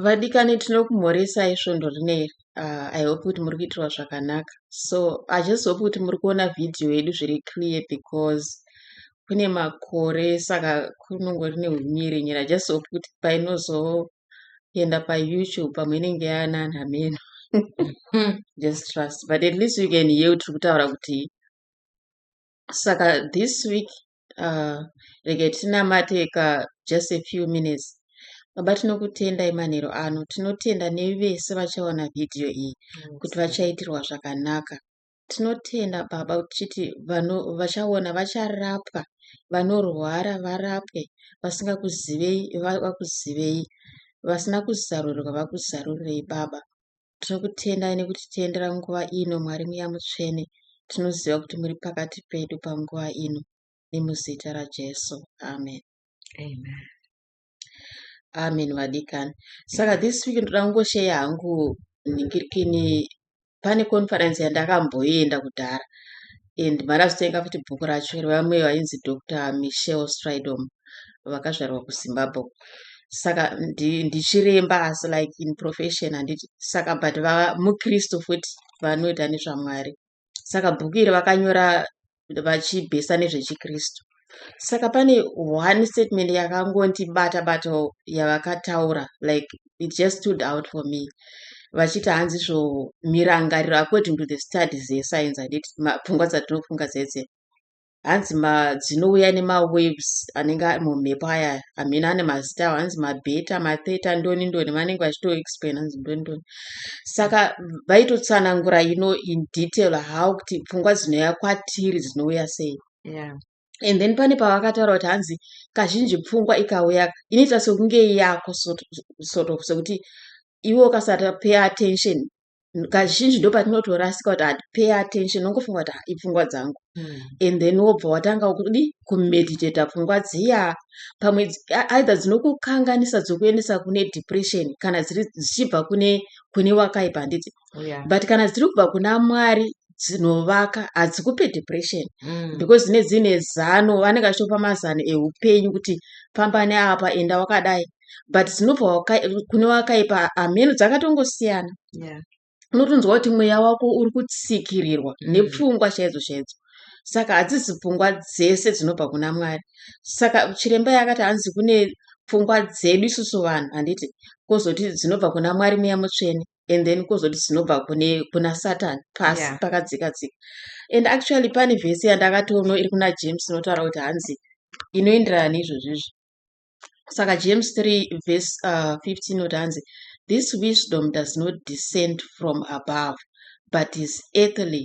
Vadikani tinokumhoresai svondo rino iri. Uh, I hope kuti muri kuitirwa zvakanaka. So I just hope kuti muri kuona video yedu zviri clear because kune makore saka kunongori neumiri nyira. I just hope kuti painozoenda paYouTube pamwe inenge yaanani hameno. just trust. But at least you can hear tiri kutaura kuti saka this week uh, rega tinamateka just a few minutes baba tinokutendai manhero ano tinotenda nevese vachaona vhidhiyo iyi mm, kuti vachaitirwa zvakanaka tinotenda baba tichiti vanhu vachaona vacharapwa vanorwara varapwe vasingakuzivei vakuzivei vasina kuzarurirwa vakuzarurei baba Tinokutendai nekutitendera nguva ino, Mwari Mweya Mutsvene. Tinoziva kuti muri pakati pedu panguva ino, nemuzita raJesu. Amen. Amen. Amen vadikani. Saka this week ndoda kungosheya hangu ningirikini pane conference yandakamboenda kudhara and marazotenga futi bhuku racho revamwe vainzi Doctor Michelle Stridom vakazvarwa kuZimbabwe saka ndichiremba asi like in profession handiti saka but vava mukristu futi vanoita nezvamwari saka bhuku iri vakanyora vachibhesa nezvechikristu saka pane one statement yakangondibata bato yavakataura like it just stood out for me vachiti hanzi zvo mirangariro according to the studies yescience anditi pfungwa dzatinofunga dzedze hanzi dzinouya nemawaves anenge ari mumhepo aya hamina ane mazita awo hanzi mabeta matheta ndoni ndoni vanenge vachitoexplain hanzi ndoni ndoni saka vaitotsanangura ino in detail how kuti pfungwa dzinouya kwatiri dzinouya sei yeah. and then pane pavakataura kuti hanzi kazhinji pfungwa ikauya inoita sekunge yako sort of sekuti iwe ukasata pay attention kazhinji ndo patinotorasika kuti hatipay attention nongofunga kuti ah, ipfungwa dzangu mm. and then wobva watanga kudi kumeditata pfungwa dziya pamwe either dzinokukanganisa dzokuendesa kune depression kana dziri dzichibva kune kune wakaipa handiti oh, yeah. but kana dziri kubva kuna mwari dzinovaka hadzikupe depression mm. because dzine dzine zano vanenge vachitopa mazano eupenyu kuti famba neapa enda wakadai but dzinobva kune wakaipa hameno dzakatongosiyana yeah. unotonzwa kuti mweya wako uri kutsikirirwa mm. nepfungwa chaidzo chaidzo saka hadzisi pfungwa dzese dzinobva kuna mwari saka chiremba yakati hanzi kune pfungwa dzedu isusu vanhu handiti kozoti dzinobva kuna mwari muya mutsvene and then kozoti dzinobva kune kuna satan pasi yeah. pakadzika dzika and actually pane vhesi yandakatono iri kuna james inotaura kuti hanzi inoenderana neizvozvo izvi saka james 3 vhesi uh, 15 inoti hanzi this wisdom does not descend from above but is earthly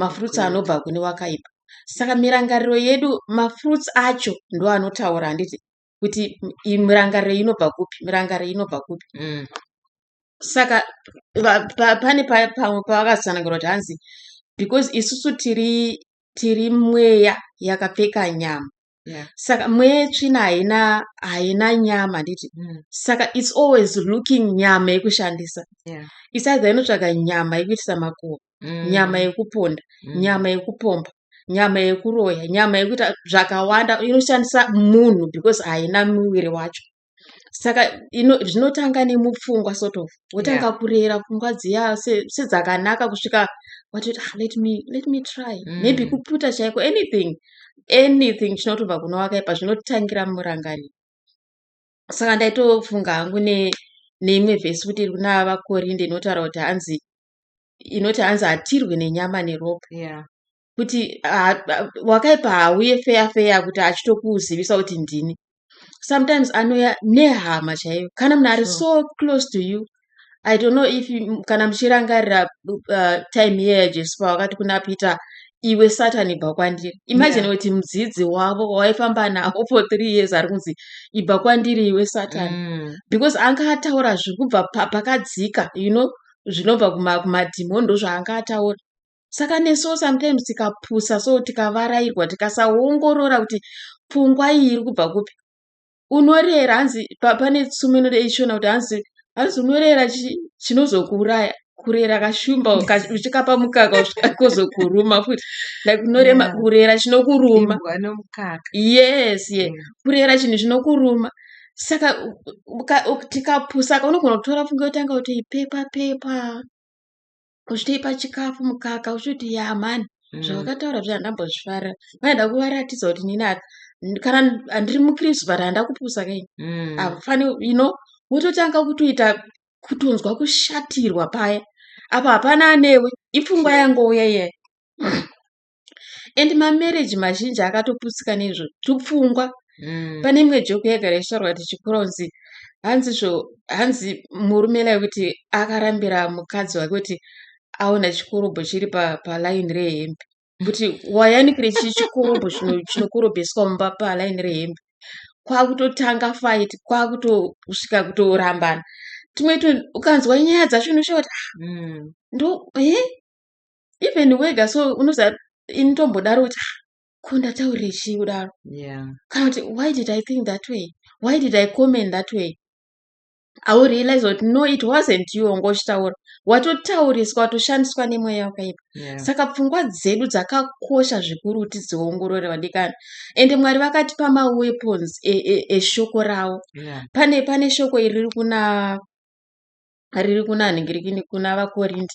mafruits anobva kune wakaipa saka mirangariro yedu mafruits acho ndo anotaura handiti kuti mirangariro inobva kupi mirangariro inobva kupi mm. saka pane pamwe pavakatsanangura kuti hanzi because isusu tiri tiri mweya yakapfeka nyama yeah. saka mweya yetsvina haina haina nyama handiti mm. saka its always looking nyama yekushandisa yeah. isaidha inotsvaga nyama yekuitisa makuva mm. nyama yekuponda mm. nyama yekupomba nyama yekuroya nyama yekuita zvakawanda inoshandisa munhu because haina muviri wacho saka zvinotanga nemupfungwa sort of wotanga yeah. kurera pfungwa dziya sedzakanaka se kusvika watoti ah, let me let me try mm. maybe kuputa chaiko anything anything chinotobva kuno wakaipa zvinotangira murangani saka ndaitofunga hangu ne neimwe vhesi kuti iri kuna vakorinde inotaura kuti hanzi inoti hanzi hatirwi nenyama neropa yeah. kuti wakaipa hauye feya feya kuti achitokuzivisa kuti ndini sometimes anouya nehama chaiyo kana munhu ari so close to you i don't know if kana muchirangarira uh, time yeya jesu pawakati kuna peter iwe satani ibva kwandiri imagine kuti yeah. mudzidzi wavo waifamba navo for three years ari kunzi ibva kwandiri iwe satani mm. because anga ataura zvekubva pakadzika you know zvinobva kumadhimoni ndozvaanga ataura saka nesuwo sometimes tikapusa so tikavarairwa tikasaongorora kuti pfungwa iyi iri kubva kupi unorera hanzi pane tsumo inoda ishona kuti hanzi hanzi unorera chinozokuuraya kurera kashumba uchikapa mukaka kozokuruma futi like unorema yeah. kurera chinokuruma yes ye yeah. Mm. kurera chinhu chinokuruma saka tikapusaka unogona kutora pfungwa yotanga kuti ipepa pepa uchitoipa chikafu mukaka uchiti ya mani mm. zvavakataura zvi handambozvifarira vaida kuvaratidza kuti nini kana handiri mukristu but handa kupusa kai mm. afani you know wototanga kutoita kutonzwa kushatirwa paya apa hapana anewe ipfungwa yangouya iyayi and mamarriage mazhinji akatoputsika neizvo tupfungwa mm. pane imwe joke yagara ichitaurwa kuti chikura unzi hanzi zvo hanzi murume lai kuti akarambira mukadzi wake kuti aona chikorobho chiri palaini pa rehembe kuti wayanikire chii chikorobho chinokorobheswa mumba palaini rehembe kwakutotanga fight kwakutosvika kutorambana tumwe ukanzwa nyaya dzacho unoshaa kuti ah, mm. ndo e even wega so unoza ini tombodaro kuti ah, ko ndataurire chii kudaro yeah. kana kuti why did i think that way why did i comment that way aurealize kuti no it wasn't you wanga uchitaura watotauriswa watoshandiswa nemweya wakaipa yeah. saka pfungwa dzedu dzakakosha zvikuru kuti dziongorore vadikani ende mwari vakatipa maweapons eshoko e, e, e ravo yeah. pane pane shoko iri riri kuna riri kuna nhingi rikini kuna vakorindi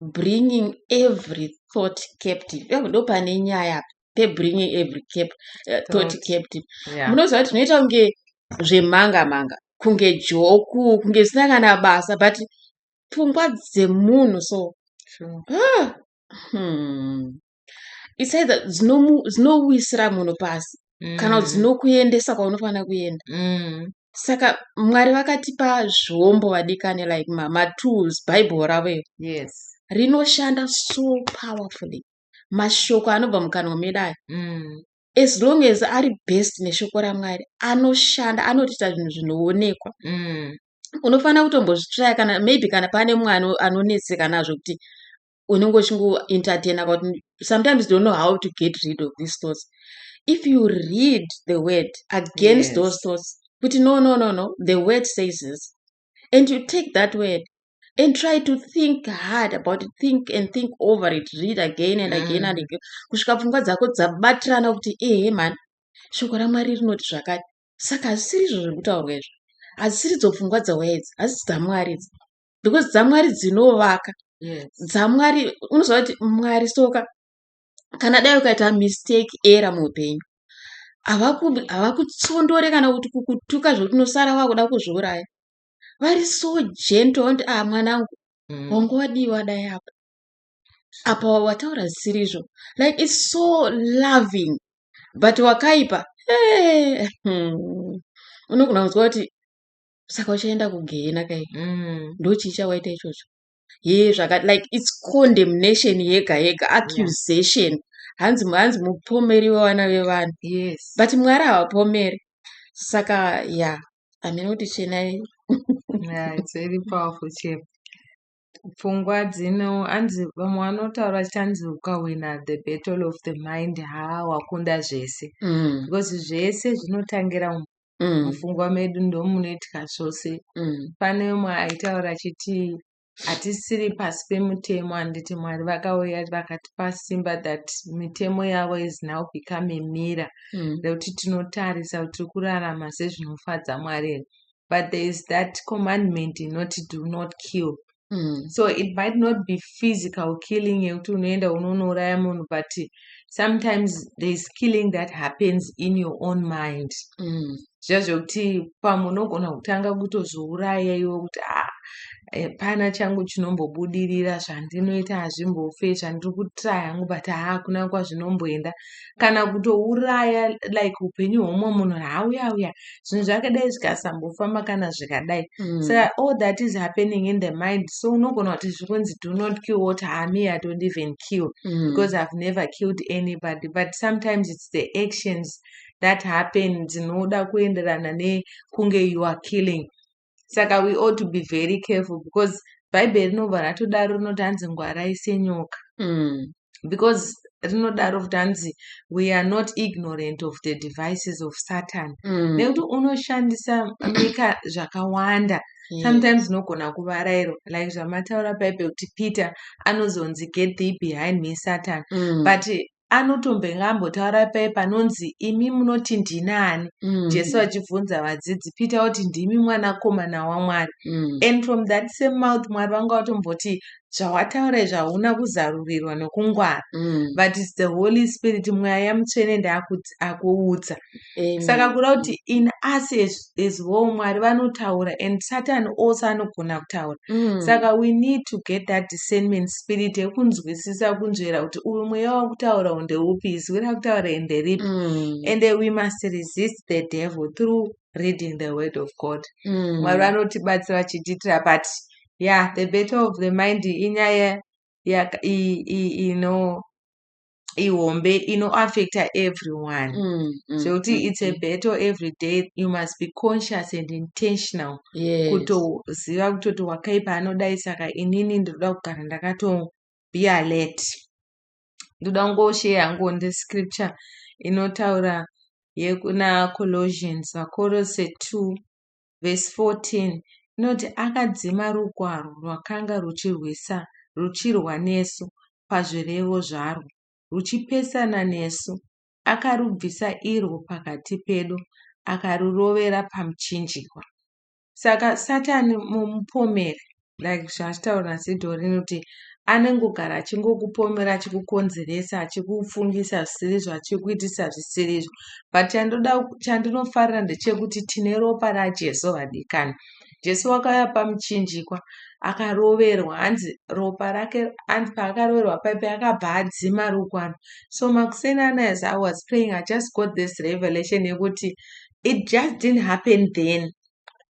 bringing every thought captive yavo ndo pane nyaya apa pebringing every cap, uh, thought captive yeah. munoziva kuti zvinoita kunge zvemanga manga kunge joku kunge zvisina kana basa but pfungwa dzemunhu so sure. ah, hmm. it's either dzinomu- dzinowisira munhu pasi Mm. kana kuti dzinokuendesa kwaunofanira kuenda Mm. saka mwari vakatipa zvombo vadikani like ma- matools bible ravo iro Yes. rinoshanda so powerfully mashoko anobva mukanwa medu aya Mm. as long as ari best neshoko ramwari anoshanda anotiita zvinhu zvinoonekwa Mm. unofanira kutombozvitraya kana maybe kana pane mwana anonetseka nazvo kuti unenge uchingoentertaina but sometimes don't know how to get rid of these thoughts if you read the word against yes. those thoughts kuti no no no no the word says this and you take that word and try to think hard about it think and think over it read again and again mm. and again kusvika pfungwa dzako dzabatirana kuti ehe mani shoko ramwari rinoti zvakati saka hazvisiri izvo zviri kutaurwa izvo hazvisiri dzopfungwa dzawaya idzi hazisi dzamwari idzi because dzamwari dzinovaka yes. dzamwari unoziva kuti mwari soka kana dai ukaita mistake era muupenyu havakutsondore kana kuti kukutuka zvekuti unosara wakuda kuzviuraya vari so gentle vanoti a ah, mwanangu mm. wangu wadiwa dai apa apa wataura zvisiri izvo like its so loving but wakaipa hey. Hmm. unogona kunzwa kuti saka uchaenda kugehena kai mm. ndochii chawaita ichocho he zvaka like its condemnation yega yega accusation hanzi yeah. hanzi mupomeri wevana vevanhu yes. but mwari havapomeri saka ya yeah. amene kuti chenai yeah, it's very powerful chef pfungwa dzino anzi vamwe vanotaura chanzi ukawina the battle of the mind haa wakunda zvese mm. because zvese zvinotangira mm. mufungwa medu ndomunoitika zvose mm. pane umwe aitaura achiti hatisiri pasi pemutemo handiti mwari vakauya vakatipa simba that mitemo yavo is now become mira mm. nekuti tinotarisa kuti tiri kurarama sezvinofadza mwari here but there is that commandment inoti do not kill Mm. so it might not be physical killing yekuti unoenda unonouraya munhu but sometimes thereis killing that happens in your own mind mm. zviya zvekuti pamwe unogona kutanga kutozviuraya iwe kuti a ah, hapana eh, changu chinombobudirira zvandinoita hazvimbofe zvandiri kutraya hangu but haakuna kwazvinomboenda kana kutouraya like upenyu hwomwe munhu hauya uya zvinhu zvakadai zvikasambofamba kana zvikadai mm. so all that is happening in the mind so unogona kuti zviri kunzi do not kill what hami i don't even kill mm. because ihave never killed anybody but sometimes it's the actions that happen dzinoda kuenderana nekunge you are killing saka we ought to be very careful because bhaibheri rinobva ratodaro rinoti hanzi ngwarai senyoka mm. because rinodaro kuti hanzi we are not ignorant of the devices of satan mm. nekuti mm. unoshandisa mika zvakawanda mm. sometimes unogona kuvarairwa like zvamataura bhaibheri kuti peter anozonzi get thee behind me satan mm. but anotombenge ambotaura paye panonzi imi munoti ndinani mm. jesu achibvunza vadzidzi pita kuti ndimi mwanakomana wamwari mm. and from that same mouth mwari vanga vatomboti zvawataura izvi hauna kuzarurirwa nokungwara mm. but its the holy spirit mweya mutsvene ndaakuudza Amen. saka kuda kuti in us as, as whole mwari vanotaura and satan also anogona kutaura Mm. saka we need to get that discernment spirit yekunzwisisa kunzvera kuti uyu mweya wakutaura unde upi izwi rakutaura ende ripi Mm. and then we must resist the devil through reading the word of god Mm. mwari vanotibatsira vachitiitira but yeah the battle of the mind inyaya yaka- i- i- ino ihombe inoaffecta everyone mm, mm, zvekuti mm, it's a mm. battle every day you must be conscious and intentional yes. kutoziva kutoti wakaipa anodai saka inini ndinoda kugara ndakato be alert ndoda kungosheya hangu ndi scripture inotaura yekuna colossians vakorose 2 vhesi 14 inoti, Akadzima rugwaro rwakanga ruchirwa nesu pazvirevo zvarwo, ruchipesana nesu, akarubvisa irwo pakati pedu, akarurovera pamuchinjikwa. Saka Satani mupomeri like zvataura Zido rinoti anongogara achingokupomera achikukonzeresa achikufungisa zvisirizvo achikuitisa zvisirizvo but chandoda chandinofarira ndechekuti tine ropa rajesu vadikani jesu wakauya pamuchinjikwa akaroverwa hanzi ropa rake hanzi paakaroverwa paipi akabva adzima rukwano so makuseni ana as i was praying i just got this revelation yekuti it just didn't happen then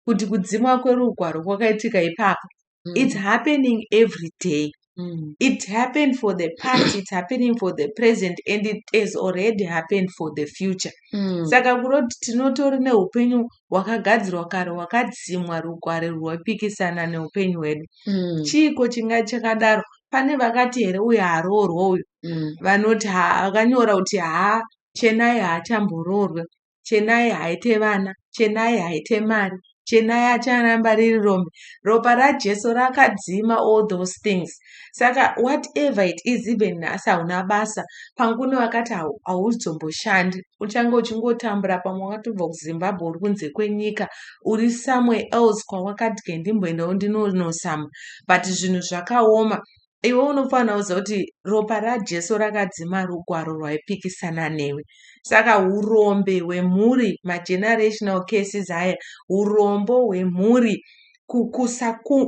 kuti kudzimwa kwerugwaro kwakaitika ipapo mm. it's happening every day mm. it happened for the past it's happening for the present and it has already happened for the future mm. saka kuroti tinotori neupenyu hwakagadzirwa kare hwakadzimwa rugware rwapikisana neupenyu hwedu mm. chiiko chinga chakadaro pane vakati here uyo haroorwa uyo mm. vanoti akanyora kuti haa chenai haachamboroorwe chenai haite vana chenai haite mari chenai acharamba riri rombe ropa rajesu rakadzima all those things saka whatever it is even nhasi hauna basa pangune wakati hauzomboshandi uchange uchingotambura pamwe wakatobva kuzimbabwe uri kunze kwenyika uri somewhere else kwawakati kendimboendawo ndinonosama but zvinhu zvakaoma iwe unofanira kuziva kuti ropa rajesu rakadzima rugwaro rwaipikisana newe saka urombe hwemhuri magenerational cases aya urombo hwemhuri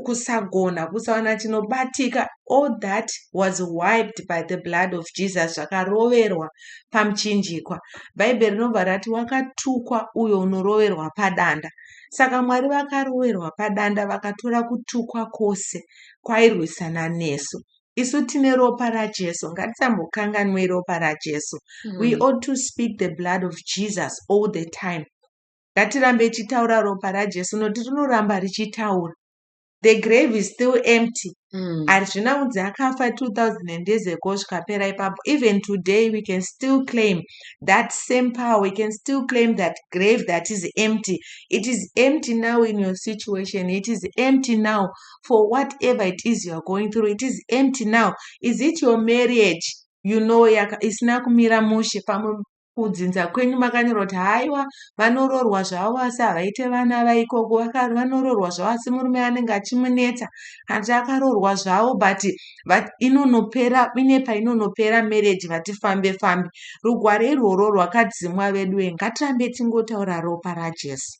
kusagona kusawana chinobatika all that was wiped by the blood of jesus zvakaroverwa pamuchinjikwa bhaibheri rinobva rati wakatukwa uyo unoroverwa padanda saka mwari vakaroverwa padanda vakatora kutukwa kwose kwairwisana nesu isu tine ropa rajesu ngatisambokanganwei ropa rajesu mm. we ought to speak the blood of jesus all the time ngatirambe ichitaura ropa rajesu noti rinoramba richitaura the grave is still empty mm. hazvina mm. unzi akafa 2000 years ago zvikapera ipapo even today we can still claim that same power we can still claim that grave that is empty it is empty now in your situation it is empty now for whatever it is you're going through it is empty now is it your marriage you know yaka isina kumira mushe pamwe kudzinza kwenyu makanyorwa kuti haiwa vanoroorwa zvavo asi havaite vana vaikoko vanoroorwa zvavo asi murume anenge achimunetsa hanzi akaroorwa zvavo but inonopera ine painonopera marriage vati fambe fambe rugwaro irworwo rwakadzimwa veduwe ngatirambe tingotaura ropa rajesu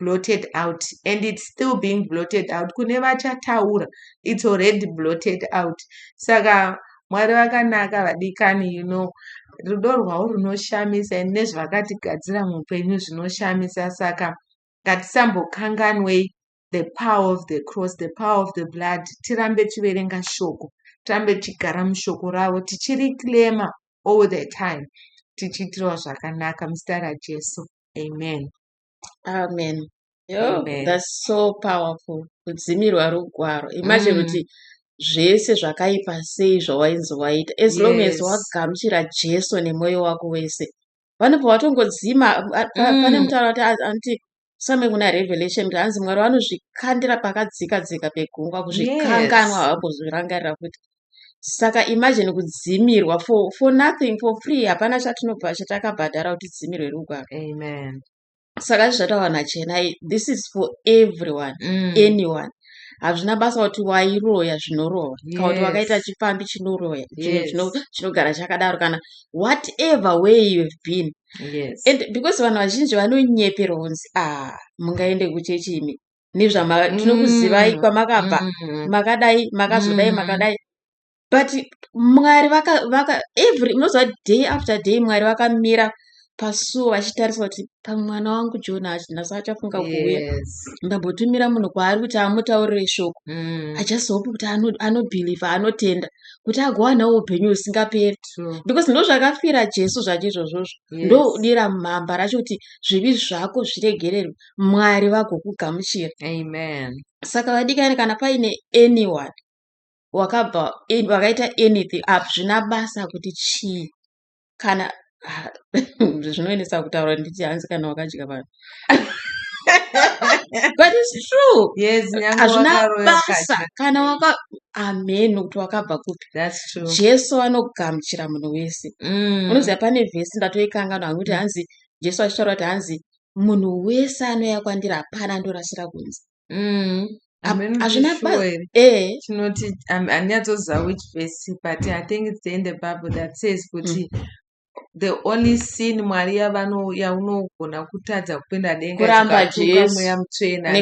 blotted out and it's still being blotted out kune vachataura it's already blotted out saka mwari vakanaka vadikani you know rudo rwavo runoshamisa and nezvavakatigadzira muupenyu zvinoshamisa saka ngatisambokanganwei the power of the cross the power of the blood tirambe tiverenga shoko tirambe tichigara mushoko ravo tichiriclema all the time tichiitirwa zvakanaka muzita rajesu amen amen yo Amen. that's so powerful kudzimirwa rugwaro imagine Mm. kuti zvese zvakaipa sei zvawainzi waita as long as Yes. wagamuchira jesu nemwoyo wako wese vanobva vatongodzima a- a- pa- pane Mm. mutauro kuti a- anti same kuna revelation kuti anzi mwari vanozvikandira pakadzika dzika pegungwa kuzvikanganwa Yes. havambozvirangarira futi saka imagine kudzimirwa for, for nothing for free hapana chatinobva chatakabhadhara kuti dzimirwe rugwaro amen saka izvi zvataura nachenai this is for everyone mm. anyone hazvina basa kuti wairoya zvinorova yes. kana kuti wakaita chipfambi chinoroya chinogara yes. chakadaro kana whatever way you have been yes. and because vanhu vazhinji vanonyeperwa kunzi ah mungaende kuchechi imi nezvama Mm. tinokuzivai kwamakabva Mm. makadai makazodai Mm. makadai but mwari vaka vaka every unoziva kuti day after day mwari vakamira pasuo vachitarisa kuti pamwana wangu jona hachi- nhasi achafunga kuuya Yes. ndambotumira munhu kwaari kuti amutaurire shoko Mm. i just hope kuti ano- anobhilivha anotenda kuti agowanawo upenyu husingaperi True. because ndo zvakafira jesu zvacho izvozvozvo Yes. ndodira mhamba racho kuti zvivi zvako zviregererwe mwari vagokugamuchira amen saka vadikani kana paine anyone wakabva wakaita anything up zvina basa kuti chii kana ah, zvinoendesa kutaura nditi hanzi kana wakadya vanhu but it's true yes hazvina basa kana waka amen nokuti wakabva kupi jesu anogamuchira munhu wese mm. unoziva pane vhesi ndatoikangano hangu kuti hanzi jesu achitaura kuti hanzi munhu wese anouya kwandiri hapana andorasira kunze mm. hazvina eh. chinoti handinyatsoziva which vese but i think it's the in the bible that says kuti mm. the only sin mwari yaunogona kutadza kupinda dengakuramba jesumoya mutsvena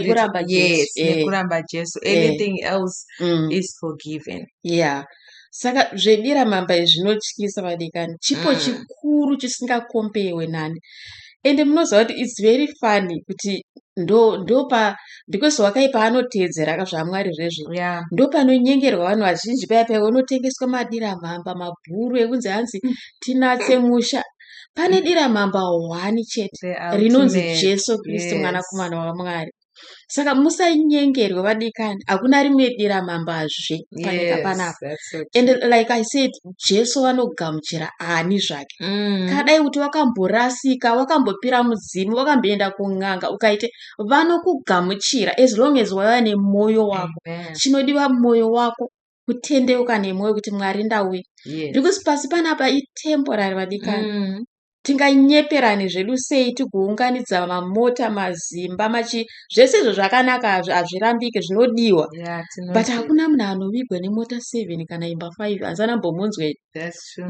yes eh. nekuramba jesu eh. anything else mm. is forgiven yeah saka zvedira mamba izvi zvinotyisa vadikani chipo mm. chikuru chisingakombewe nani ende munoziva kuti its very funny kuti ndopa because wakai paanoteedzera ka zvamwari zvezvo yeah. ndopanonyengerwa vanhu vazhinji paya paya unotengeswa madira mhamba mabhuru ekunzi hanzi mm. tinatse musha pane mm. dira mhamba hwani chete rinonzi jesu kristu yes. mwanakomana wamwari saka musanyengerwe vadikani hakuna rimwe dira mambazve panyika panapa and like i said jesu vanogamuchira ani zvake mm. kadai kuti wakamborasika wakambopira mudzimu wakamboenda kun'anga ukaite vanokugamuchira as long as waiva nemwoyo wako chinodiwa mwoyo wako kutendeuka nemwoyo kuti mwari ndauya yes. because pasi panapa itemporary vadikani mm. tinganyeperani zvedu sei tigounganidza mamota mazimba machi zvese izvo zvakanaka hazvirambike zvinodiwa yeah, but hakuna munhu anovigwa nemota seven kana imba five hazana mbomunzwe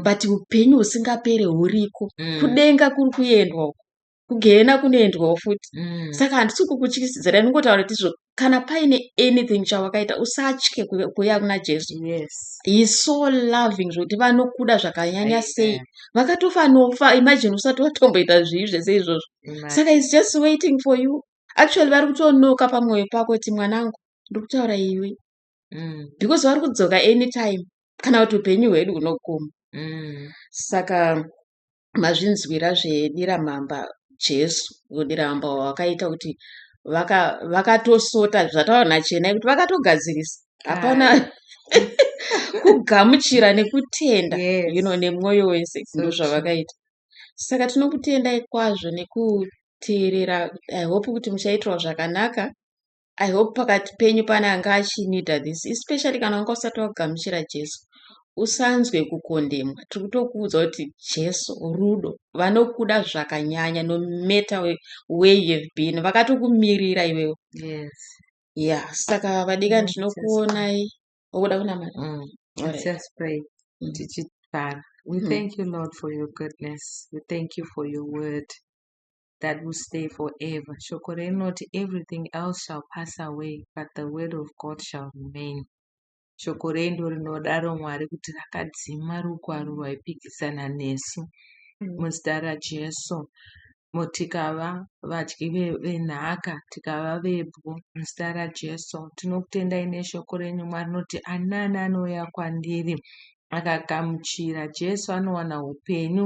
but upenyu husingapere huriko mm. kudenga kuri kuendwa uko kugehena kunoendwawo futi mm. saka handisi kukutyisidzira ndingotaura kuti izvo kana paine anything chawakaita usatye kuuya kuna jesu yes. heis so loving zvokuti vanokuda zvakanyanya sei vakatofa nofa imagine usati watomboita zvii zvese izvozvo saka is just waiting for you actually vari kutonoka pamwoyo pako kuti mwanangu ndiri kutaura iwe mm. because vari kudzoka anytime kana kuti upenyu hwedu hunoguma mm. saka mazvinzwira zvedira mamba jesu dira mamba wakaita kuti vakatosota vaka zvataura nachena kuti vakatogadzirisa hapana kugamuchira nekutenda yes. you know, nemwoyo wese ndo zvavakaita saka tinokutendai kwazvo nekuteerera i hope kuti muchaitirwa zvakanaka i hope pakati penyu pane anga achinida this especially kana wanga usati wagamuchira jesu usanzwe kukondemwa tiri kutokuudza kuti jesu rudo vanokuda zvakanyanya no matter where you have been vakatokumirira iwewo yes ya saka vadika ndinokuonai okuda kunamata mm. mm. tichipara we mm. thank you lord for your goodness we thank you for your word that will stay forever. Shoko rinoti everything else shall pass away but the word of God shall remain. Shoko renyu rinodaro Mwari kuti rakadzima rugwaro rwaipikisana nesu mm. muzita raJesu. Tikava vadyi venhaka, tikava vebwo muzita raJesu. Tinokutendai neshoko renyu Mwari rinoti anani anouya kwandiri akagamuchira Jesu anowana upenyu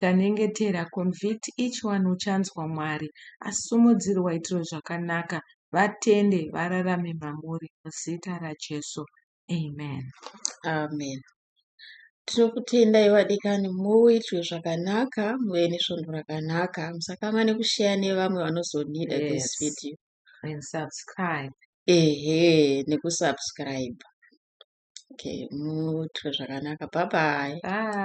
Tanyengetera, convict each one uchanzwa Mwari asimudzire waitiro zvakanaka vatende vararame mamuri muzita raJesu Amen. Amen. Tinokutendai vadikani muitwe zvakanaka muve nesvondo rakanaka musakamane kusheya nevamwe vanozonida yes. this video and subscribe ehe nekusubscribe okay muitwe zvakanaka bye bye, bye.